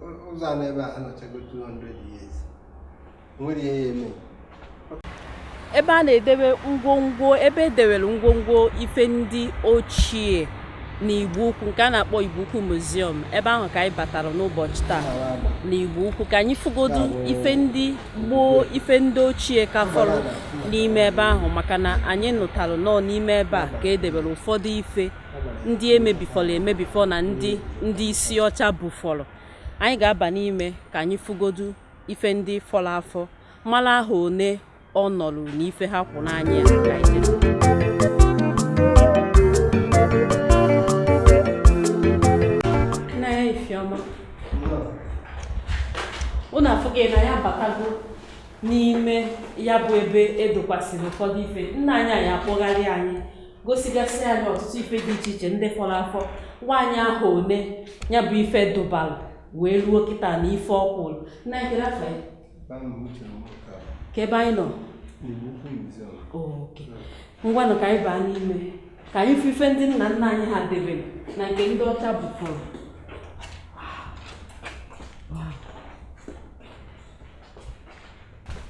ụzọ a n'ebe a anọchago 200 years nwere ihe ya eme ebe a na-edebe ngwongwo ebe edewere ngwongwo ife ndị ochie na igbo ukwu nke a na-akpọ igbo ukwu museum ebe ahụ ka anyị batara n'ụbọchị taa na igbo ukwu ka anyị fụgodu ife ndị gboo ife ndị ochie ka fọrọ n'ime ebe ahụ maka na anyị nụtara na ọ n'ime ebe a ka edebere ụfọdụ ife ndị emebifọrọ emebifọ na ndị ndị isi ọcha bufọrọ anyị ga-aba n'ime ka anyị fụgodu ife ndị fọrọ afọ mara ahọ one ọ nọrụ na ife ha kwụ n'anya unu afụghị na anyị abatago n'ime ya bụ ebe edokwasịrị ụfọdụ ife nna anyị ya-akpọgharị anyị gosigasị anyị ọtụtụ ife dị iche iche ndị fọrọ afọ gwa anyị ahọ one ya bụ ife dụbara wee ruo kịta na ife ọ kwụrụ nna ekere afọ ya ka ebe anyị nọ okay ngwanụ ka anyị baa n'ime ka anyị fụ ife ndị nna nna anyị ha debere na nke ndị ọcha bufọrọ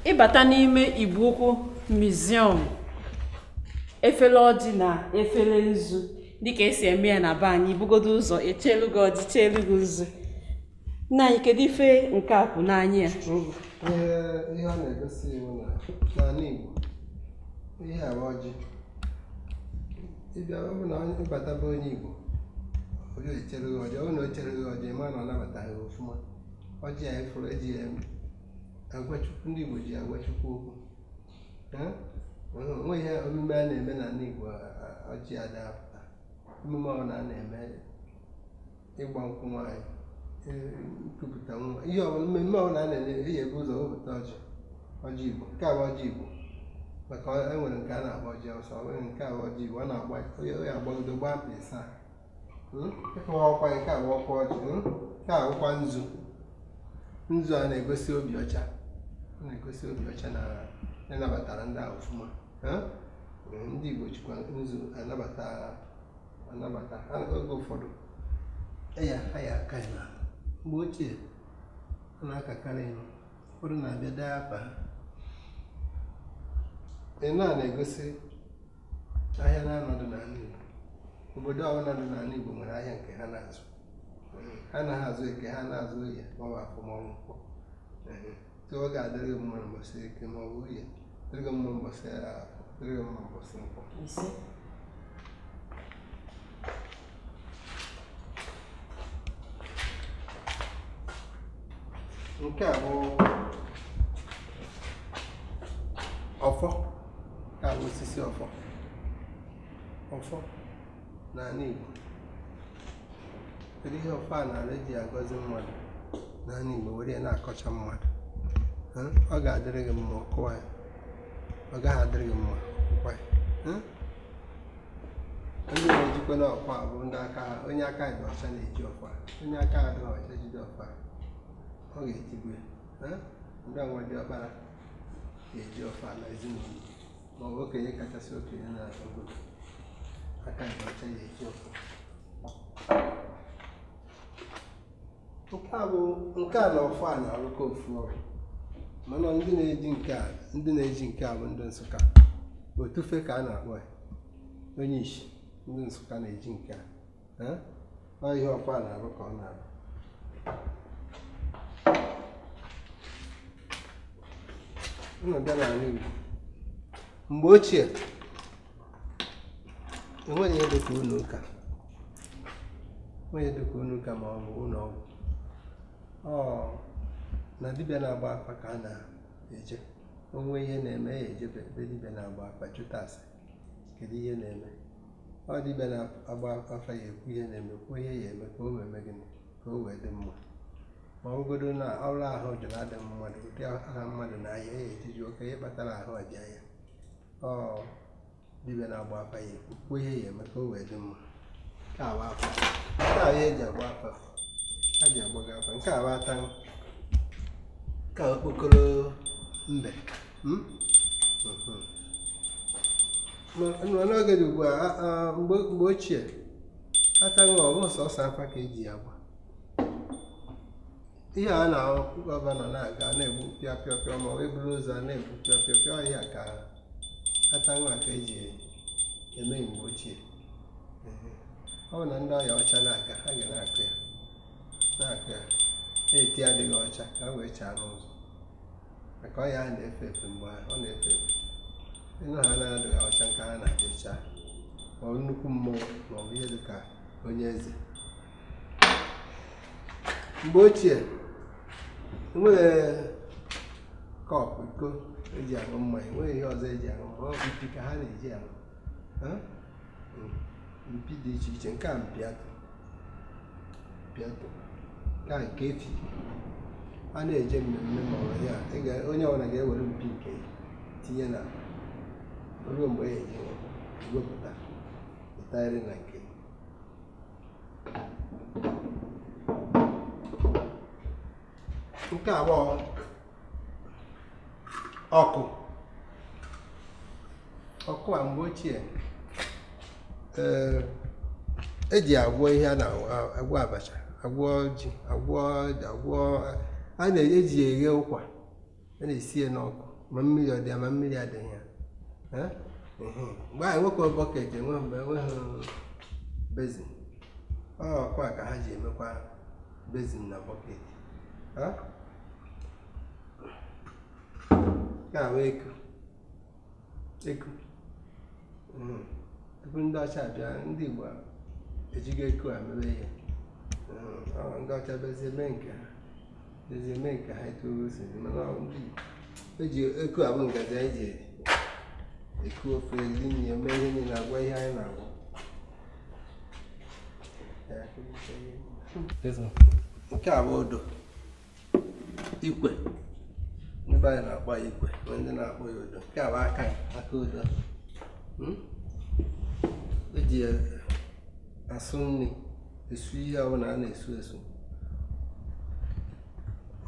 ị bata n'ime igbo ukwu museum efere ọjị na efere nzu dịka esi eme ya na be anyị bugodo ụzọ echelu gị ọjị chelu gị nzu nna anyị kedu ife nke a kwụ n'anya ya ihe a na-egosi wụ na n'ala igbo ihe a wụ ọjị ị bịa ọ bụ na ị bata be onye igbo ọ ya-echere gị ọjị ọ bụ na o chere gị ọjị ma na ọ nabata gị ọfụma ọjị a ị fụrụ eji ya agwa Chukwu ndị Igbo ji agwa Chukwu okwu o nwe ihe omume a na-eme n'ala Igbo ọjị ada apụta emume ọbụla a na-eme ịgba nkwụ nwaanyị e, nkupụta nwa ihe ọbụla mmemme ọbụla a na-eme a ya-ebu ụzọ wepụta ọjị ọjị Igbo nke a bụ ọjị Igbo maka enwere nke a na-akpọ ọjị Awụsa nwere nke a bụ ọjị Igbo ọ na-agba ọ ya-agbagide gbaa mkpị ịsaa hmm? ịkọwa ọkwa nke a ọkwa ọjị hmm? nke a ọkwa nzu nzu a na-egosi obi ọcha na-egosi obi ọcha na ị nabatara ndị a ọfụma hmm? ndị Igbo jikwa nzu anabata anabata oge ụfọdụ ya ha ya aka ya mgbe ochie a na-akakarị ya ụfọdụ na-abịa dee apa ị na-egosi ahịa na-anọdụ n'ala Igbo obodo ọbụla dị n'ala Igbo nwere ahịa nke ha na-azụ ha na-azụ eke ha na-azụ oye maọbụ afọ maọbụ nkwọ so ọ ga-adịrị gị mma mbọsị eke maọbụ oye dịrị gị mma mbọsị afọ dịrị gị mma mbọsị nkwọ nke a bụ ọfọ nke a bụ osisi ọfọ ọfọ n'ala Igbo kedu ihe ọfọ a na-arụ eji agọzi mmadụ n'ala Igbo were ya na-akọcha mmadụ ọ ga-adịrị gị mma ọ kụwa ya ọ gaghị adịrị gị mma ọ kụwa ya ndị na-ejikwanụ ọfọ a bụ ndị aka ha onye aka dị ọcha na-eji ọfọ a onye aka adịghị ọcha jide ọfọ a ọ ga-etigbu ya eh? ndị ọ nwa diọkpara ga-eji ọfọ a na ezinụlọ ma ọ bụ okenye kachasị okenye na obodo aka dị ọcha ga-eji ọfọ nke a bụ nke a na ọfọ a na-arụkọ ofu ọrụ mana ndị na-eji nke a ndị na-eji nke a bụ ndị Nsụka otufe ka a na-akpọ ya onye ishi ndị Nsụka na-eji nke a Eh? ọ ihe ọfọ a na-arụ ka ọ na-arụ unu bịa n'ala Igbo mgbe ochie enweghị ihe dịka ụlọ ụka enweghị ihe dịka ụlọ ụka ma ọ bụ ụlọ ọgwụ ọ na dibịa na-agba afa ka a na-eje o nwee ihe na-eme ya ejebe ebe dibịa na-agba afa jụta ase kedu ihe na-eme ọ dibịa na-agba afa ya ekwu ihe na-eme kwuo ihe ya eme ka o wee mee gịnị ka o wee dị mma ma ọ bụgodo na ọrụ ahụ jụrụ adị mmadụ ụdị aha mmadụ na a ya eje jụọkwa ihe kpatara ahụ ọja ya dibịa na-agba afa ya kwuo ihe ya eme ka o wee dị mma nke a bụ afa nke a ya eji agba afa a ji agbaga afa nke a bụ ata nke a bụ okpokoro mbe hmm? hmm. n'oge dị ugbu a mgbe ochie ata ọ bụghị sọsọ afa ka eji ya agba ihe a na-ahụ gọvanọ na-aga na-egbu pịa pịa pịa ma ọ eburu ụzọ a na-egbu pịa pịa pịa ọ ihe a ka ata nwa ka eji eme mgbe ochie ọ bụ na ndị ọya ọcha na-aga ha ga na-akụ ya na-akụ ya na-eti adịghị ọcha ka ha wee chaa n'ụzọ maka ọya ahụ na-efe efe mgbe ahụ ọ na-efe efe ị nụ ha na-adịghị ọcha nke ha na-adịcha ma ọ bụ nnukwu mmụọ ma ọ bụ ihe dị ka onye eze mgbe ochie enweghị kọp iko eji aṅụ mmanya enweghị ihe ọzọ eji aṅụ mmanya ọ bụ mpi ka ha na-eji aṅụ mpi dị iche iche nke a mpi atụ mpi atụ nke a nke efi a na-eje mmemme ma ọ bụ ya ị ga- onye ọbụla ga-ewere mpi nke ya tinye na ruo mgbe ya eji wepụta ịtagharị na nke nke a bụ ọkụ ọkụ a mgbe ochie eji agwọ ihe a na-agwọ abacha agwọ ji agwọ agwọ a na-eji eghe ụkwa a na-esi ya n'ọkụ ma mmiri ọ dị ya ma mmiri adịghị ya mgbe anyị nwekwa bọket enwe mgbe enweghị bezin ọkụ a ka ha ji emekwa bezin na bọket nke a bụ eku eku hmm. tupu ndị ọcha bịa ndị Igbo ejigo eku a mere ihe hmm. ndị ọcha bịazie mee nke ha zie mee nke ha etu o si dị, mana ọ ndị Igbo. E ji eku a bụ ngaji anyị ji eku ofe eri nri eme ihe niile agwọ ihe anyị na-agwọ. Ya, akụrịta ihe niile. Nke a bụ odo ikwe ndị be anyị na-akpọ ya ikwe ma ndị na-akpọ ya odo nke a bụ aka aka odo Hmm? eji ya asụ nri esu ihe ọbụla a na-asụ asụ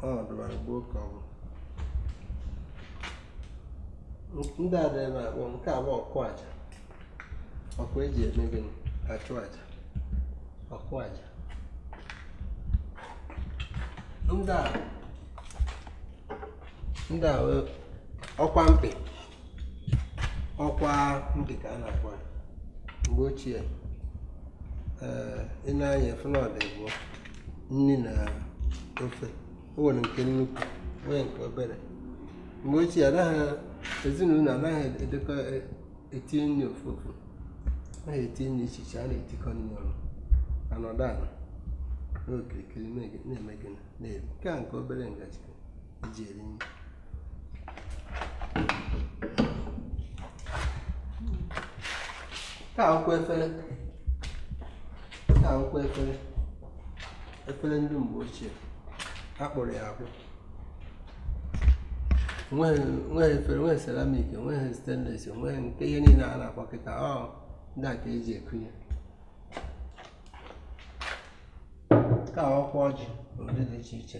ọ dịbara gboo ka ọ bụ ndị a dịrị na-akpọ nke a bụ ọkụ aja ọkụ eji eme gịnị achụ aja ọkụ aja ndị a ndị a bụ ọkwa mkpị ọkwa mkpị ka a na-akpọ ya mgbe ochie ee, ị nee anya ị fụ na ọ dị abụọ nri na ofe o nwere nke nnukwu nwee nke obere mgbe ochie anaghị ezinụlọ anaghị etikọ e- etinye nri ofu ofu anaghị etinye nri iche iche a na-etikọ nri ọnụ anọdụ ala n'okirikiri na-ege- na-eme gịnị na-eri nke a nke obere ngaji akwụkwọ efere akwụkwọ efere efere ndị mgbe ochie a kpụrụ ya akpụ nweghị efere nweghị seramik nweghị stainless nweghị nke ihe niile a na-akpọ kịta ọ ndị a ka eji ekunye nke a ọkwa ọjị ụdị dị iche iche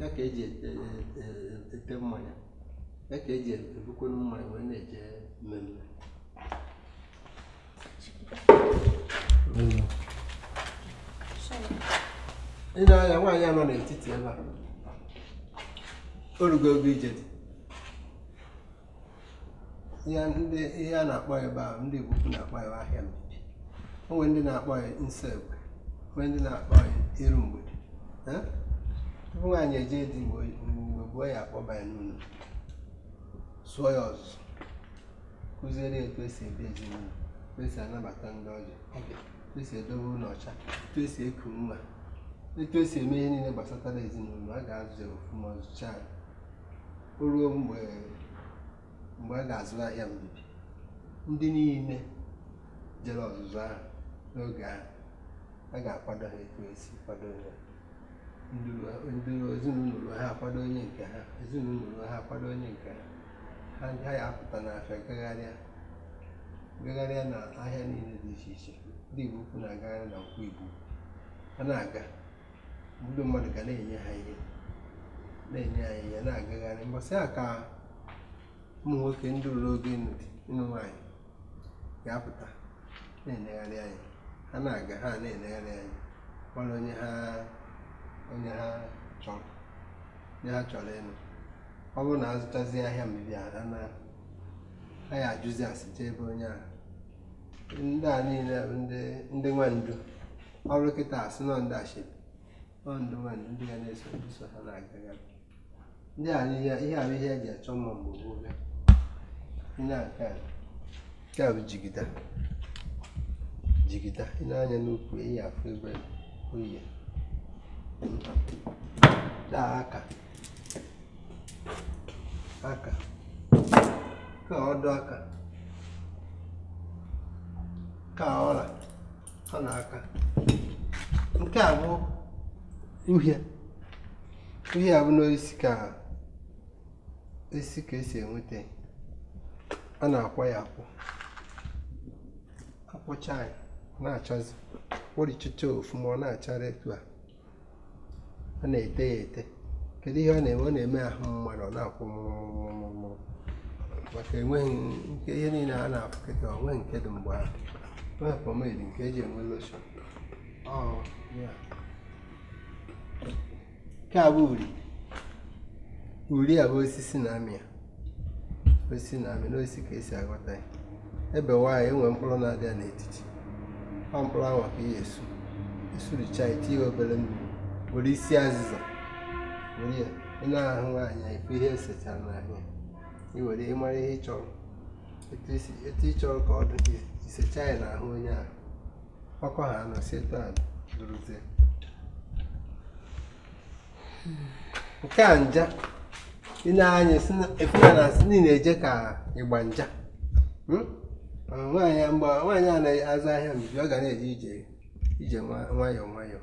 ya ka eji ete e, e, e, mmanya ya ka eji ebukwenu mmanya wee na-eje mmemme ị nee anya nwaanyị a nọ n'etiti ebe a orugo oge ije di ya ndị ihe a na-akpọ ebe a ndị Igbo ukwu na-akpọ ya ahịa mbibi o nwere ndị na-akpọ ya nso egbe o nwee ndị na-akpọ ya iru mgbede tupu nwaanyị eje di mgbe gboo a ya-akpọba ya n'ụlọ zụọ ya ọzụzụ kuziere etu esi ebi ezinụlọ etu esi anabata ndị ọbịa etu esi edobe ụlọ ọcha etu esi eku nwa etu esi eme ihe niile gbasatara ezinụlọ a ga-azụ ya ọfụma a zụcha o ruo mgbe mgbe a ga-azụ ahịa mbibi ndị niile jere ọzụzụ ahụ n'oge ahụ a ga-akwado ha etu esi kwado ya ndị ezinụlọ ha akwado onye nke ha ezinụlọ ha akwado onye nke ha ha ndị ha ya apụta n'afịa gagharịa gagharịa na ahịa niile dị iche iche ndị Igbo ukwu na-agagharị na Nkwọ Igbo ha na-aga ndị mmadụ ga na-enye ha ihe na-enye ha ihe na-agagharị mbọsị a ka ụmụ nwoke ndị ruru oge ịnụ di ịnụ nwaanyị ga-apụta na-enegharị anya ha na-aga ha na-enegharị anya mara onye ha onye ha chọrọ onye ha chọrọ ịnụ ọ bụrụ na a zụchazi ahịa mbibi a na ha ya ajụzi ase jee be onye ahụ ndị a niile bụ ndị ndị nwandu ọrụ kịta a sị na ọ ndị ashebi ọ ndị nwandu ndị ga na-eso ndị so ha na-agagharị ndị a ihe a bụ ihe eji achọ mma mgbe gboo bịa ihe a nke a nke a bụ jigida jigida ị nee anya n'ukwu ị ya-afụ ebe o yi ya daa aka aka ka ọdụ aka ka ọla nke a bụ uhie uhie a bụ n'osisi ka esi ka esi enweta a na-akwọ ya akwọ a kwọcha ya na-achazi kwọrichachaa ọfụma ọ na-achara etu a ọ na-ete ya ete kedu ihe ọ na-eme ọ na-eme ahụ mmadụ ọ na-akwọ mụrụmụrụmụrụ maka enweghị nke ihe niile a na-afụ kịta o nweghị nke dị mgbe ahụ o nweghị pomade nke e ji enwe lotion nke a bụ uri uri a bụ osisi na-amị ya osisi na-amị n'osisi ka e si aghọta ya e bewaa ya e nwee mkpụrụ na-adị ya n'etiti ọ mkpụrụ ahụ ka a ya-esu e suricha ya tinye obere mmiri were isi azịza were ya ị na-ahụ nwaanyị ife ihe e sechara n'ahụ ya i were ịmara ihe ị chọrọ etu ị chọrọ ka ọ dị i secha ya n'ahụ onye ahụ ọ kọọ ha anọsi etu a dụrụzie nke a nja ị na-anụ ife a na-asị na ị na-eje ka ị gba nja hmm? nwaanyị mgbe nwaanyị a na-azụ ahịa mbibi ọ ga na-eje ije ije nwayọọ nwayọọ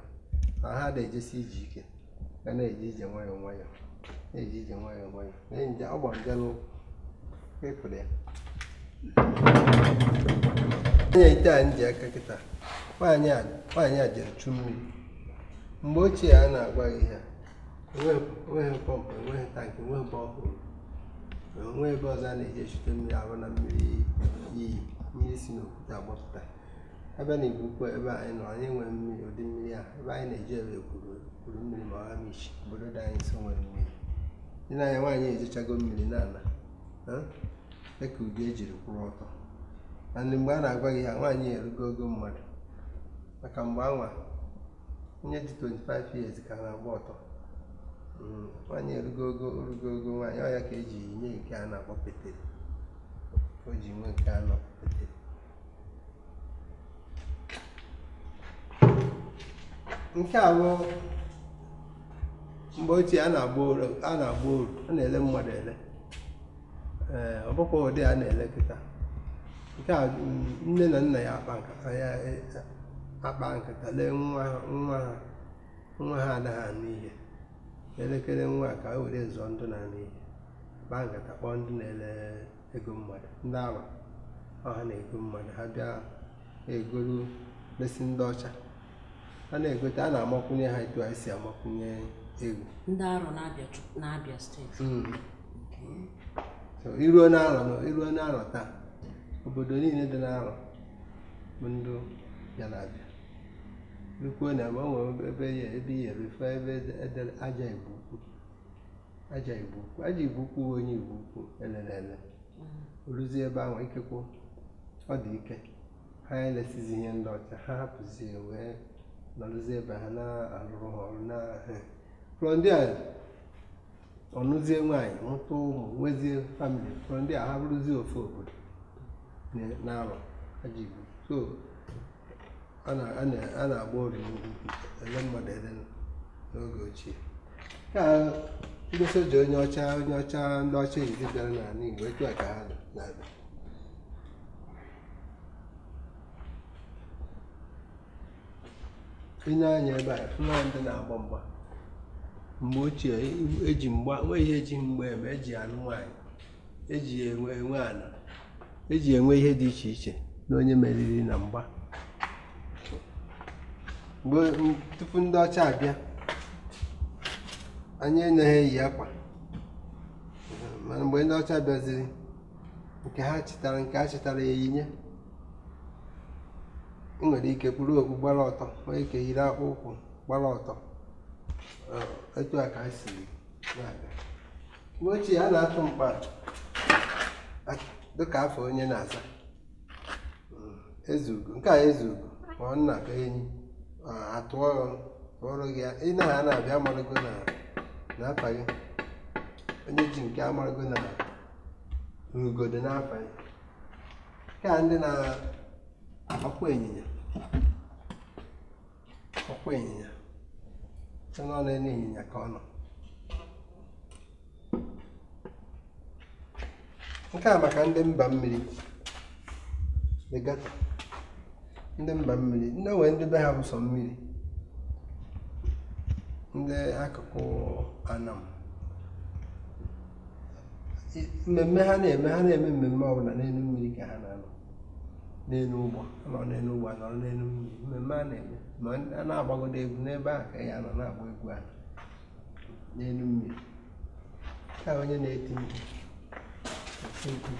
ma ha ada-ejesi ije ike ga na-eje ije nwayọọ nwayọọ na-eje ije nwayọọ nwayọọ ọ gbara nja n'ụkwụ ị fụrụ ya anya ite a m ji aka kịta nwaanyị a jere chu mmiri mgbe ochie a na-agwa gị ya enweghị pọmpụ enweghị tankị enweghị borehole o nweghị ebe ọzọ a na-eje echute mmiri abụghị na mmiri iyi mmiri si n'okwute agbapụta ebe a n'igbo ukwu ebe anyị nọ anyị enweghị mmiri ụdị mmiri a ebe anyị na-eje bụ ekwulu ekwulumili ma ọ amichi obodo dị anyị nso nwere mmiri dị n'anya nwaanyị ejechago mmiri na-ala dịka ụdị o jiri kwụrụ ọtọ na ndị mgbe a na-agwa gị ya nwaanyị erugo ogo mmadụ maka mgbe anwa onye dị 25 years ka na-agba ọtọ mm, nwaanyị erugo ogo o rugo ogo nwaanyị ọ ya ka o ji nwee nke a na-akpọ pete o ji nwee nke a na-akpọ pete nke a bụ mgbe ochie a na-agba oru a na-agba oru a na-ele mmadụ ele ee ọ bụkwa ụdị a na-ele kịta nke a mm, nne na nna ya akpaa nkata ya e- akpaa nkata lee nwa ha nwa ha nwa ha anaghị anụ ihe e lekere nwa a ka e were zụọ ndị na-anụ ihe a kpaa nkata kpọọ ndị na-ele ego mmadụ ndị arọ ọ ha na-ego mmadụ ha bịa egolu lesi ndị ọcha a na-egote a na-amakwunye ha etu anyị si amakwunye eghu ndị arọ n'abia steeti hmm. i ruo n'arọ i ruo n'arọ taa obodo niile dị n'arọ bụ ndị ya na-abịa rukwuo na ebe o nwere ebe ya ebe ị ya-eru fụ ebe e dere aja igbo aja igbo ukwu aja igbo ukwu onye igbo ukwu elere ele o luzie ebe ahụ ikekwu ọ dị ike ha elesizi ihe ndị ọcha ha hapụzie wee nọrụzie ebe ha na-arụrụ ha ọrụ na Florida ọ nụzie nwaanyị mụta ụmụ nwezie famili Florida ha bụrụzie ofu obodo na- na-arọ aja igbo ukwu a na-agba oru n'ugwu ele mmadụ ele n'oge ochie ka ndị soja onye ọcha onye ọcha ndị ọcha izi bịara n'ala Igbo etu a ka ha na-abịa ịne anya ebe a fụna ndị na-agba mgba mgbe ochie eji mgba nwe ihe eji mgba eme eji anụ nwaanyị eji enwe enwe ana eji enwe ihe dị iche iche na onye meriri na mgba mgbe tupu ndị ọcha abịa anyị anaghị eyi akwa mana mgbe ndị ọcha bịaziri nke ha chịtara nke a chịtara ya eyinye ị nwere ike kpuru okpu gbara ọtọ nwee ike yiri akpụ ụkwụ gbara ọtọ etu a ka ha si na-abịa mgbe ochie a na-atụ mkpa dịka afa onye na-aza ezeugo nke a ezeugo ma ọ nna ka enyi atụọrọ gị ị na ha na-abịa amarago na afa gị onye ji nke amarago na ugo dị n'afa gị nke a ndị na-akwụ ịnyịnya ọkwa ịnyịnya na ọ n'elu ịnyịnya ka ọ nọ nke a maka ndị mba mmiri regatta ndị mba mmiri ndị nwe ndị be ha bụ sọ mmiri ndị akụkụ anam mmemme ha na-eme ha na-eme mmemme ọbụla n'elu mmiri ka ha na-anọ n'elu ụgbọ nọ n'elu ụgbọ nọrọ n'elu mmiri mmemme a na-eme ma a na-agbagodo egwu n'ebe a ka ya nọ na-agba egwu a n'elu mmiri ka onye na-eti mkpu eti mkpu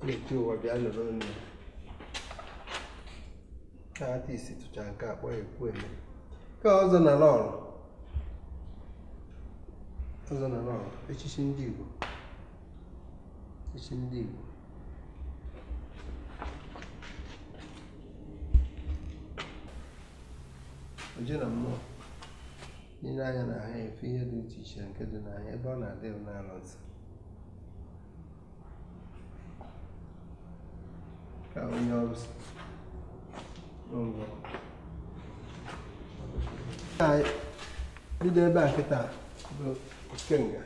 na-eti ụwa bịa lụrụ onye ya ka artist tụcha nke akpọrọ ekwueme ka ọzọ na lọlọ ọzọ na lọlọ echichi ndị Igbo Isi ndị Igbo. Oje na mmụọ n'ile anya na ha efe ihe dị iche iche nke dị n'anya ebe ọ na-adị n'ala nsọ ka onye ọrụ si n'ụlọ bido ebe a kịta bụ ikenga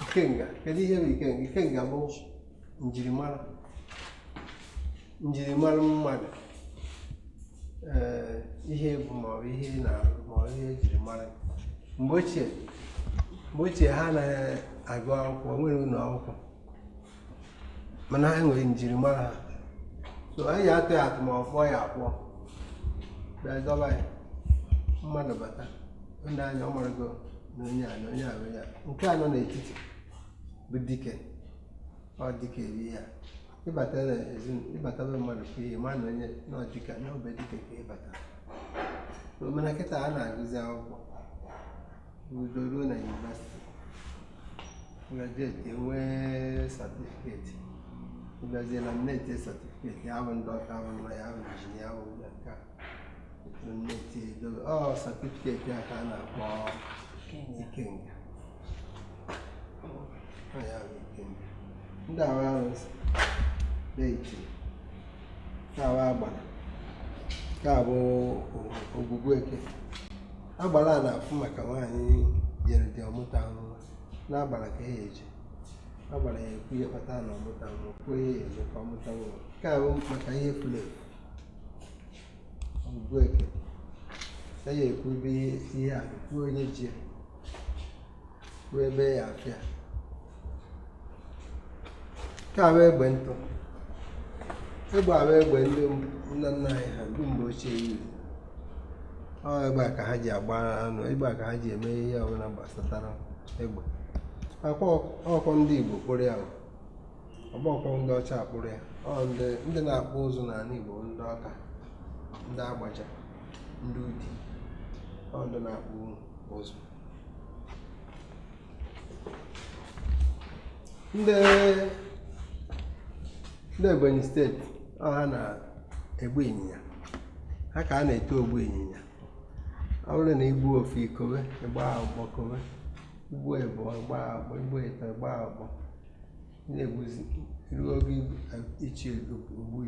ikenga kedu ihe bụ ikenga ikenga bụ njirimara njirimara mmadụ ee ihe ị bụ maọbụ ihe ị na-arụ maọbụ ihe ejiri mara mgbe ochie mgbe ochie ha anaghị agụ akwụkwọ enwerọ ụlọ akwụkwọ mana anyị nwere njirimara ha so anyị atụ ya atụ ma ọ kpụọ ya akpụ bịa dọba ya mmadụ bata o nee anya ọ marago na onye a na onye a na onye a nke a nọ n'etiti bụ dike ọ dike ebe a ị bata na ezinụlọ ị bata be mmadụ fụ ihe ma na onye na ọdịka na ọ be dike ka ị bata So, mana kịta a na-agụzi akwụkwọ gụọ ruo na yunivasiti graduate enwee satifiketi ị bịazie laminate satifiketi ya bụ ndị ọka bụ lawyer bụ injinia bụ nke a laminate edobe ọ satifiketi a ka a na-akpọ ikenga ọ ya bụ ikenga ndị a bụ arụsị deity nke a bụ agbara nke a bụ ogwugwu eke agbara a na-afụ maka nwaanyị jere di ọ mụtahụ nwa agbara ka a ya-eje agbara ya ekwu ihe kpata na ọ mụtahụ nwa kwuo ihe ya eme ka ọ mụta nwa nke a bụ maka ihe furu efu ogwugwu eke ya ya ekwu ebe ihe a nọ kwuo onye ji ya kwuo ebe a ya-afụ ya nke a bụ egbe ntụ egbe a bụ egbe ndị nna nna anyị ha ndị mgbe ochie jiri ọ egbe a ka ha ji agba anụ egbe a ka ha ji eme ihe ọbụla gbasatara egbe ọ bụkwa ndị Igbo kpụrụ ya ọ bụhọkwa ndị ọcha kpụrụ ya ọ ndị ndị na-akpụ ụzụ n'ala Igbo ndị Ọka ndị Agbaja ndị Udi ọ ndị na-akpụ ụzụ ndị ndị Ebonyi steeti ọ ha na-egbu ịnyịnya ha ka a na-eto ogbu ịnyịnya ọ bụrụ na i gbuo ofu i kowe ịgba ọkpọ kowe i gbuo ịbụọ ịgba ọkpọ i gbuo ịtọ ịgba ọkpọ na-egbuzi ruo oge ichi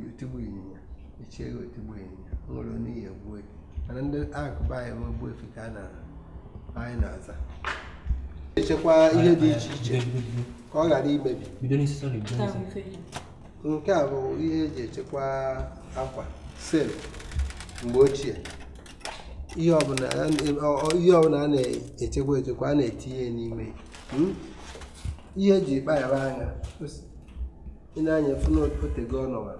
otigbu ịnyịnya ichigo otigbu ịnyịnya nwere onye ihe egbuo gị mana ndị nke be anyị bụ ogbu efi ka a na anyị na-aza echekwa ihe dị iche iche ka ọ ghara imebi bido n'isi sọrọ bido Nke a n'isi bụ ife ji. nke a bụ ihe eji echekwa akwa sel mgbe ochie ihe ọbụla a na- ọ- ọ- ihe ọbụla a na-echekwa echekwa a na-etinye ya n'ime ya. Hmm? ihe eji kpa ya aṅa ị nee anya ị fụ na otego ọ nọwa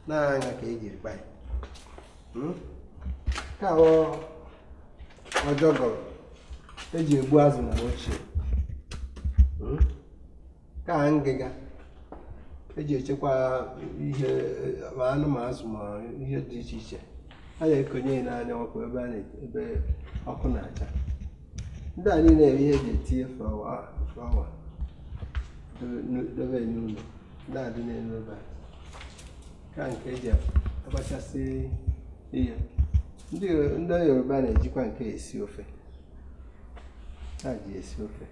na aṅa ka eji kpa ya hmm? nke a ọjọgọ eji egbu azụ mgbe ochie hmm? nke a ngịga eji echekwa ihe ma anụ ma azụ ma ihe dị iche iche a na-ekonye ya n'anya ọkụ ebe a ebe ọkụ na-acha ndị a niile bụ ihe eji etinye flawa flawa dobe n'ụlọ ndị a dị n'elu ebe a nke a nke eji agbakasị ihe ndị yoruba na-ejikwa nke a esi ofe ha ji esi ofe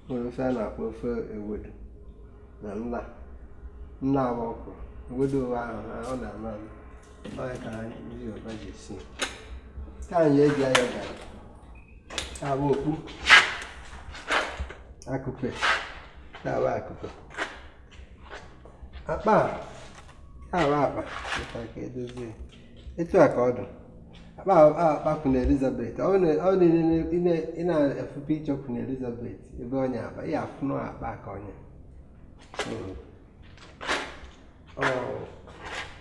nwere ofe a na-akpọ ofe ewedu na na- na-agba ọkwụrụ ewedu ahụ na ọ na-ama ama ọ ya ka ndị Yoruba ji esi nke a ihe eji ayọ garị nke a bụ okpu akụpe nke a bụ akụpe akpa nke a bụ akpa maka ka edozie etu a ka ọ dị akpa akpa Queen Elizabeth ọ na- ọ dị n'ile- ine- ị na-afụ picture Queen Elizabeth ebe ọ nya akpa ị ya-afụ na akpa ka ọ nya Mm. Ọ,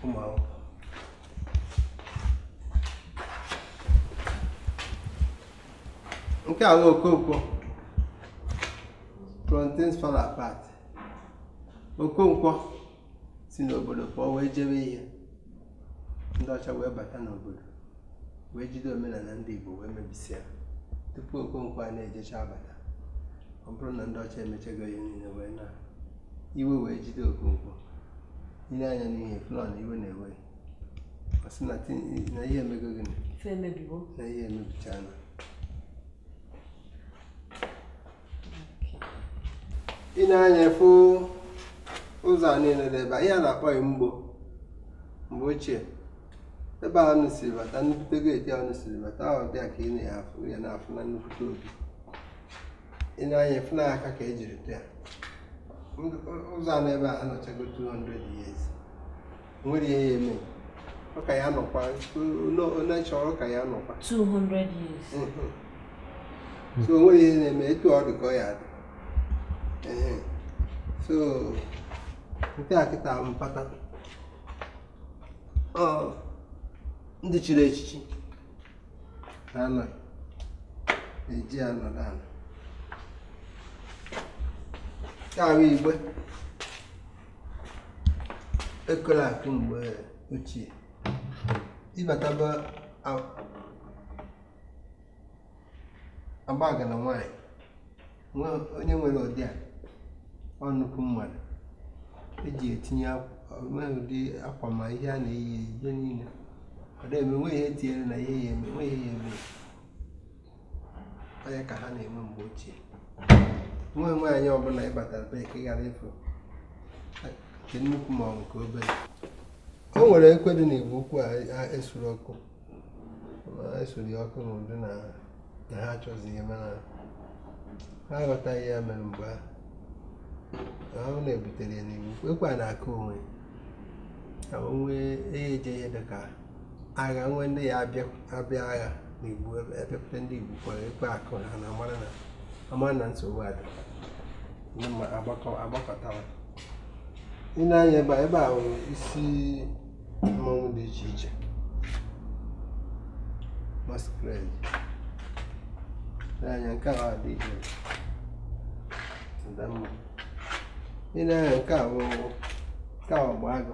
ụmụ akwụkwọ nke a bụ okonkwo from Things Fall Apart okonkwo si n'obodo pụọ wee jebe ihe ndị ọcha wee bata n'obodo wee jide omenala ndị Igbo wee mebisịa tupu Okonkwo a na-ejecha abata ọ bụrụ na ndị ọcha emechego ihe niile wee na iwe wee jide Okonkwo ị nee anya n'ihu ị fụ na iwe na-ewe ọ sị na ihe emego gịnị na ihe emebichana ị nee anya ị fụ ụzọ a niile dị ebe a ihe a na-akpọ ya mgbo mgbe ochie ebe a unu siri bata nnukwute geeti a unu siri bata ahụ bịa ka ị na-afụ ya na-afụ na nnukwute obi ị nee anya ị fụ na aka ka ejiri tụ ya ụzọ a n'ebe a anọchago 200 years nwere ihe ya eme ọ ka ya nọkwa onye chọrọ ka ya nọkwa 200 years mhm. so nwere ihe na-eme etu ọ dị ka ọ ya dị so nke a kịta mpata ndị chiri echichi na-anọ eji anọdụ ala nke ahụ igbe ekwela akụ mgbe ochie ị bata be agbaga na nwanyị onye nwere ụdị a ọ nnukwu mmadụ eji etinye ụdị akwa ma ihe a na-eyi eyi ihe niile ọ na-eme nwe ihe tinyere na ihe ya eme nwe ihe ya eme ọ ya ka ha na-enwe mgbe ochie nwa nwaanyị ọbụla ịbatara be ka ị ghara ịfụ nke nnukwu ma ọ nke obere o nwere ekwe dị n'igbo ukwu a esuru ọkụ esuru ya ọkụ n'ụdị na ha achọzi ihe mana ha aghọtaghị ya mere mgbe ahụ ọ na-ebutere ya n'igbo ukwu ekwe a na-akụ onwe onwe eje ihe dị ka agha nwe ndị ya abịa agha na igbo ebepụta ndị igbo ukwu anụ ekwe akụ ha na amara na amara na nsogbu adị ndị mmadụ agbakọtawa ị nee anya ebe a ebe a nwere isi mmanwụ dị iche iche masquerade nee anya nke a dị iche adamma ị nee anya nke a bụ ọgba agụ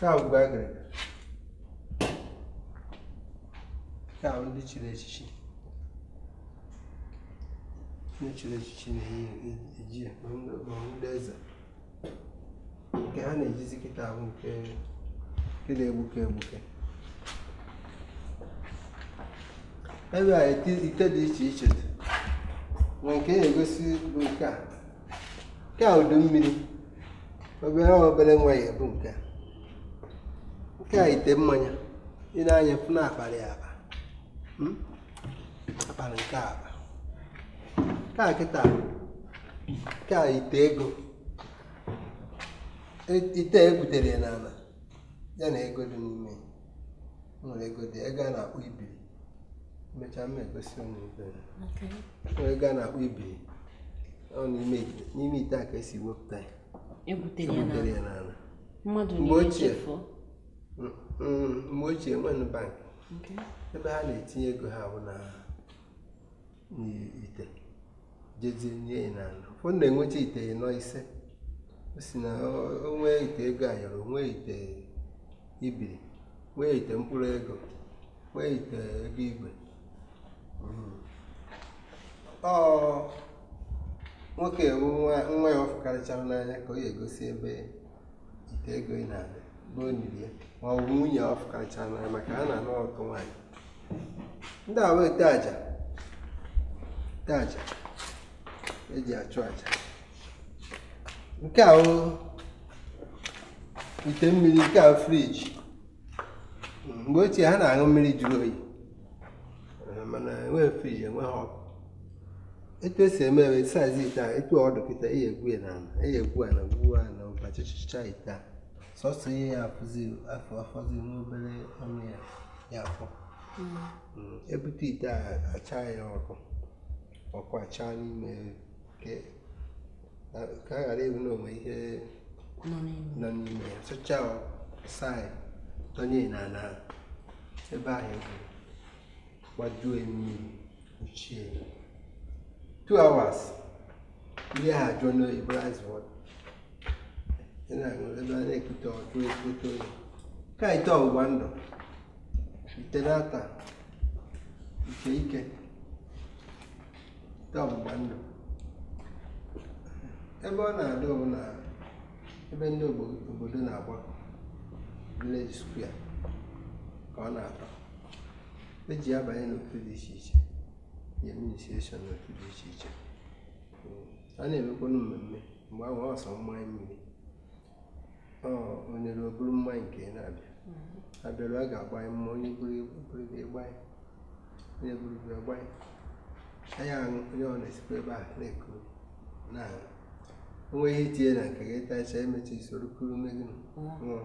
ka ngwu agịrịga ndị chiri echichi ndị chiri echichi na-eji ya ma ndị eze nke ha na-ejizi kịta bụ nke na-egbuke egbuke ebe a ite dị iche iche nwee nke na-egosi bụ nke a nke a udu mmiri obere obere nwa ya ebu nke nke a ite mmanya ị nee anya fụ na akpara ya akpa hmm? akpara nke a akpa nke a kịta nke a ite ego e, ite egwutere ya n'ala ya na ego dị n'ime nwere ego dị ego a na-akpọ ibiri mechaa m egosi unu nwere ego a na-akpọ ibiri ọ n'ime ite a ka esi wepụta ya egwutere ya n'ala mmadụ mgbe ochie mm, mm, mgbe ochie enwenụ bank ebe ha na-etinye ego ha bụ na n'ite jezie nie ya n'ala ụfọdụ na-enweta ite ịnọ ise o si na o nwee ite ego ayọrọ nwee ite ibiri nwee ite mkpụrụ ego nwee ite ego igwe hmm. ọ nwoke nwa ya ọ fụkarịchara n'anya ka ọ ya-egosi ebe ite ego ị na-adị bụ o niri ya ma ọ bụ nwunye ọ fụkarịchara n'anya maka ha na-anụ ọtụtụ nwaanyị ndị a wụ ite aja ite aja eji achụ aja nke a ite mmiri nke a friji mgbe ochie ha na-aṅụ mmiri jụrụ oyi mana enweghị friji enweghị ọkụ etu esi eme eme saizi ite a etu ọ dụ kịta e ye egwu ya n'ala e ye egwu ala gwuo ala ụbachịchịcha ite a sọsọ ihe ya afọzi n'obere ọnụ ya ya afọ hmm. Hmm, ebute ite a acha ya ọkụ ọkụ achaa n'ime ka a ghara ịbụ na o nwe ihe nọ n'ime ya sụchaa saa ya tọnye n'ala ebe ahụ e gwuru gbajuo mmiri ochie two hours ihe ahụ ajụọ oyi bụ ice water ị na-aṅụ ebe a na-ekute ọjụ ekute oyi nke a ite ọgbụgba ndụ ite na-ata ite ike ite ọgbụgba ndụ ebe ọ na-adị bụ na ebe ndị ogbo- obodo na-agbakọ village square ka ọ na-atọ eji abanye n'otu dị iche iche ya administration n'otu dị iche iche Mm. a na-emekwanụ mmemme mgbe ahụ ọ sọ mmanya mmiri onye ruo buru mmanya nke ya na-abịa mm-hmm. abịarụ a ga-agbanye mma onye buru buru gbanye onye buru gbanye a ya-aṅụ onye ọ na-esikwa ebe a na-eku na o nwe ihe i tinye na nke gị tacha e mechaa i soro kuru mee gịnị mm-hmm.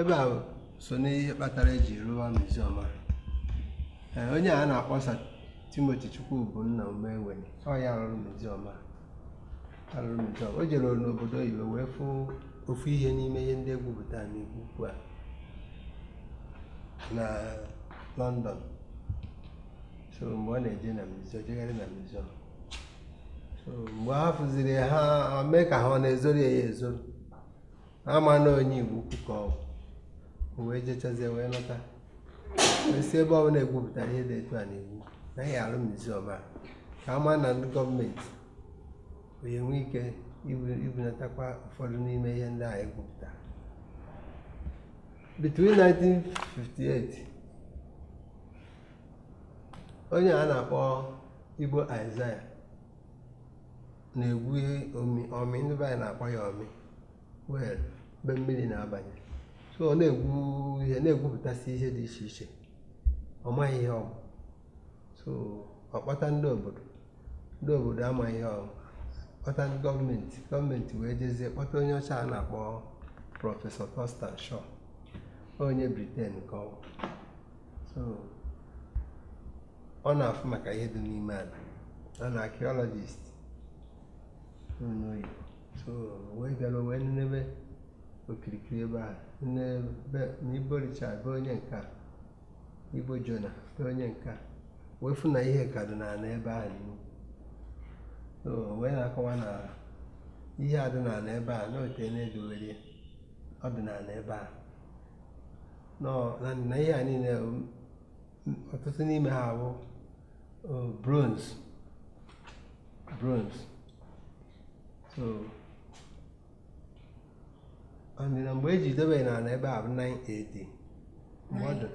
ebe a so n'ihe kpatara eji rụwa miziọm a onye a na-akpọ Sir Timoti Chukwubunna Umeweni ọ ya rụrụ miziọm a rụrụ miziọm a o jere n'obodo oyibo wee fụ ofu ihe n'ime ihe ndị e gwupụta n'Igbo Ukwu a na London so mgbe ọ na-eje na miziọm jegharị na miziọm mgbe ha fụziri ha mee ka ha ọ na-ezoro ya ezoro ama na onye igbo ukwu ka ọ bụ wee jechazie wee lọta a sị ebe ọ bụla egwupụtara ihe dị etu a na-egwu naghị arụ muziọm ka ama na ndị gọọmenti ya-enwe ike ibunatakwa ụfọdụ n'ime ihe ndị a egwupụtara between 1958 onye a na-akpọ Igbo Isaiah na-egwu ọmị ndị be anyị na-akpọ ya ọmị well ebe mmiri na-abanye so ọ na-egwu ihe na-egwupụtasị ihe dị iche iche ọ maghị ihe ọ bụ so ọ kpọta ndị obodo ndị obodo amaghị ihe ọ bụ kpọta ndị gọọmenti gọọmenti wee jezie kpọta onye ọcha a na-akpọ prọfesọ Thurston Shaw onye Britain ka ọ bụ so ọ na-afụ maka ihe dị n'ime ala ọ na archaeologist n'oyibo so wee bịara wee nenebe okirikiri ebe a n'ebe na Igbo Richard bụ onye nke a Igbo Jonah bụ onye nke a wee fụ na ihe ka dị n'ala ebe ahụ n'ihu so wee na-akọwa na ihe a dị n'ala ebe a na ọ teena e dowere ọ dị n'ala ebe a na ihe a niile ọtụtụ n'ime ha bụ uh, bronze bronze so and na mgbe eji dobe n'ala ebe a bụ 9 AD mgbe ọ dị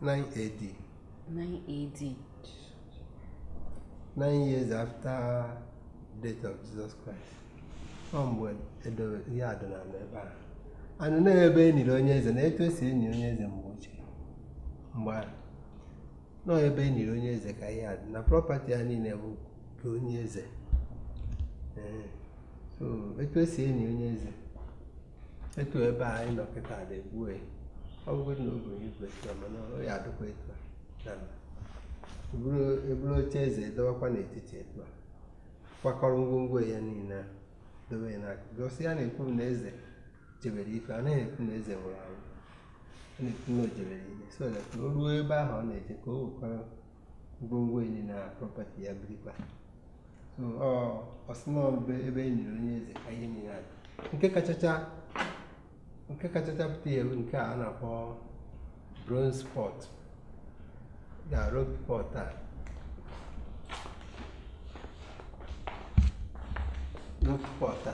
9 AD 9 AD 9 years after death of Jesus Christ ọ mgbe edobe ihe a dị n'ala ebe a and na ebe e niri onye eze na etu esi eni onye eze mgbe ochie mgbe ahụ na ọ ebe e niri onye eze ka ihe a dị na prọpati ya niile bụ nke onye eze Ee, so etu esi eni onye eze etu ebe a anyị nọ kịta dị gbuo ya ọ bụgodị na ogo igwe etu a mana ọ ya adịkwa etu a na mba. Eburu eburu oche eze dowakwa n'etiti etu a kwakọrọ ngwongwo ya niile a dobe ya n'aka gosi ya na-ekwu na eze jebere ije a naghị ekwu na eze nwụrụ anwụ na o jebere ije so that o ruo ebe ahụ ọ na-eje ka o wekwara ngwongwo ya na prọpati ya birikwa so ọ ọsịmọ mgbe ebe e niri onye eze ka ihe niile adị nke kachacha nke kachacha pụta ihe bụ nke a na-akpọ bronze pot na rope pot a rope pot a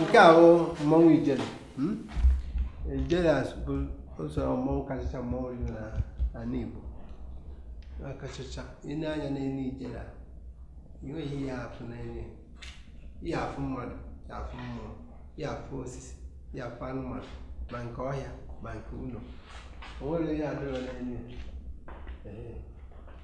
nke a bụ mmanwụ ijele hmm? ijele bụ ụzọ mmanwụ kachacha mmanwụ dị n'ala Igbo akachacha i nee anya n'elu ijele a enweghị ihe afụ n'elu ị ya-afụ mmadụ ị ya-afụ mmụọ ị ya-afụ osisi ị ya-afụ anụmanụ ma nke ọhịa ma nke ụlọ o nwerọ ihe adịrọ n'elu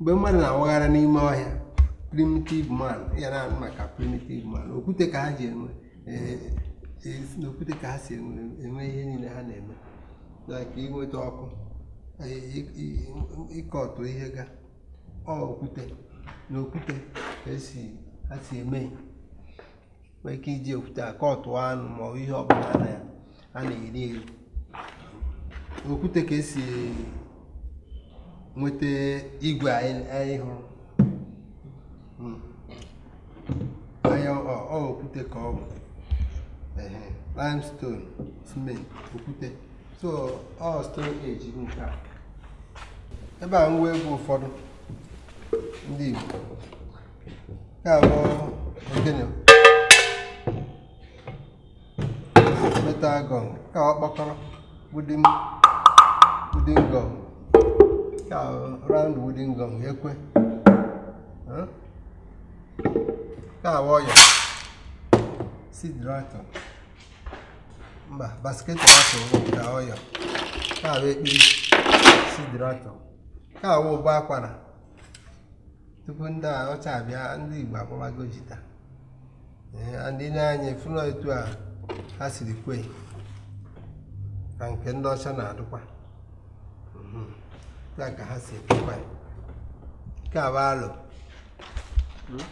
mgbe mmadụ na-awagharị n'ime ọhịa primitive man ya na-anụ maka primitive man okwute ka ha ji enwe eh, eh, si n'okwute ka ha si enwe enwe ihe niile ha na-eme like inweta ọkụ eh, i- i- ịkọtụ ihe ga ọ okwute n'okwute ka e si ha si eme nwee ike iji okwute a kọtụọ anụ ma ọ bụ ihe ọbụla na ya a na-eri eri okwute ka e si nweta igwe anyị anyị hụrụ Mm. anyị ọ ọ- ọ okwute ka ọ bụ Ehe, limestone cement okwute so ọ stone age bụ nke a ebe a ngwa egwu ụfọdụ ndị Igbo nke a bụ ogene metal gong nke a ọkpọkọrọ wooden wooden gong nke a round wooden gong ekwe nke a bụ ọyọ seed rattle mba basket rattle nke a ọyọ nke a bụ ekpiri seed rattle nke a bụ ụbọ akwara tupu ndị ọcha abịa ndị Igbo akpọbago jita and i nee anya fụ na etu a ha siri kwe ya nke ndị ọcha na-adụkwa ya mhm. ka ha si ekwekwa nke a bụ alo hmm?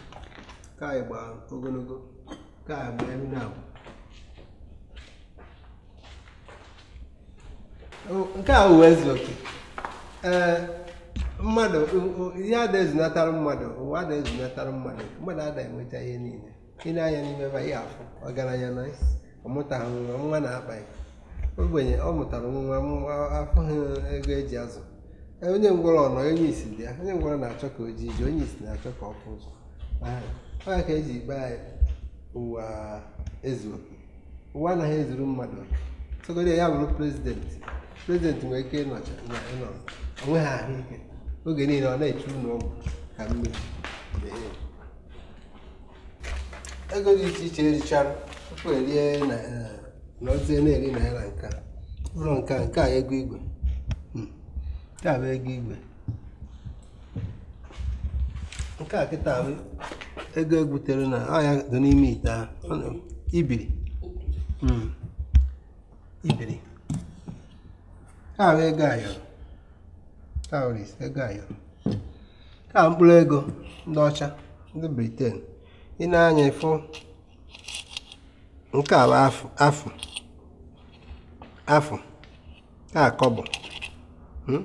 ka anyị gba ogologo ka anyị gba elu na-abụ nke a ụwa ezu oke ee mmadụ ihe ada ezunatara mmadụ ụwa ada ezunatara mmadụ mmadụ ada enweta ihe niile i nee anya n'ime ebe ị ya-afụ ọgaranya na ọ mụtaghị nwa nwa na-akpa ya ogbenye ọ mụtara nwa nwa afụghị ego e ji azụ onye ngwọrọ na onye isi dị ya onye ngwọrọ na-achọ ka o jee ije onye isi na-achọ ka ọ fụ ụzọ ọ ya ka e ji akpọ ya ụwa ezu oke ụwa anaghị ezuru mmadụ sọgodi ya bụrụ president president nwere ike ịnọcha na ịnọ o nweghị ahụike oge niile ọ na-echu ụlọ ọgwụ ka mmiri na-enye. ego dị iche iche e richara tupu e rie na eh, nọzie na-eri naira nke a ụlọ nke a nke a ego igwe Hmm. nke a bụ ego igwe nke a kịta bụ ego e gwutere na ọ ya dị n'ime ite ahụ ibiri hmm. ibiri nke a bụ ego ayọrọ ego ayọrọ ka mkpụrụ ego ndị ọcha ndị briten i nee anya ị fụ nke a bụ afụ afụ afụ a kọbọ hmm?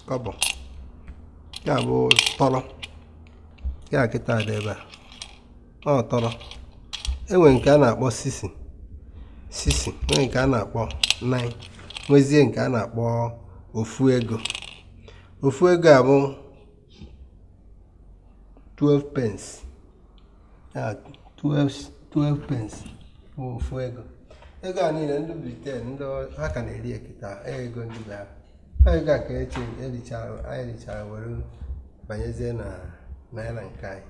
kọbọ nke a bụ tọrọ nke a kịta dị ebe a ọ tọrọ e nwee nke a na-akpọ sisi sisi nwee nke a na-akpọ naị nwezie nke a na-akpọ ofu ego ofu ego a bụ 12 pence ya 12 12 pence bụ ofu ego ego a niile ndị briten ndị ha ka na-eri kịta ego ndị be ha ha ego a ka e richara anyị richara were banyezie na naira nke anyị